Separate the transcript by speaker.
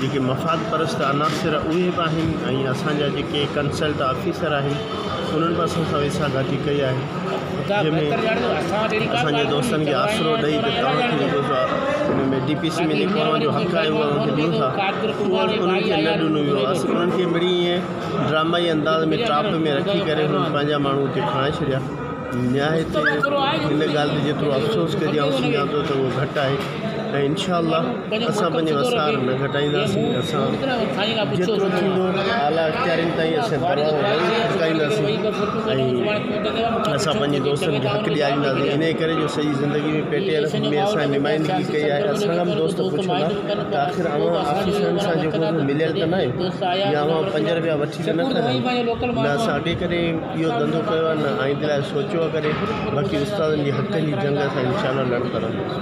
Speaker 1: جيڪي مفاد پرست عناصر اهي به آهن ۽ اسان جا جيڪي ڪنسلٽ آفيسر آهن انهن به اسان سان ويساهه گهاتي ڪئي آهي جنهن ۾ اسان جي دوستن کي آسرو ڏئي ته توهان کي جيڪو سا ان ۾ ڊي پي سي ۾ جيڪو اوهان جو حق آهي اهو اوهان کي ڏيون ٿا اهو انهن کي نه ڏنو ويو آهي اسان انهن کي مڙئي ائين ڊرامائي انداز ۾ ٽراپ ۾ رکي ڪري انهن پنهنجا ماڻهو اتي کڻائي ڇڏيا نهايت ان ڳالهه تي جيترو افسوس ڪجي آئون سمجهان ٿو ته اهو گهٽ آهي ۽ انشاء الله اسان پنهنجي وسار نه گهٽائينداسين اسان جيترو ٿيندو اعليٰ اختيارين تائين اسين دعوائون نه کٽڪائينداسين ۽ اسان پنهنجي دوستن کي حق ڏيارينداسين انهي ڪري جو سڄي زندگي ۾ پي ٽي ايل ۾ اسان نمائندگي ڪئي آهي اسان کان به دوست پڇن ها ته آخر اوهان آفيسرن سان جيڪو به مليل ته ناهيو يا اوهان پنج رپيا وٺي ته نه کادا آهيو نه اسان اڳي ڪڏهن اهو ڌنڌو ڪيو آهي نه آئيندي لاء سوچيو آهي ڪڏهن باقي استادن جي حقن جي جنگ اسان انشاء الله لڙندا رهنداسين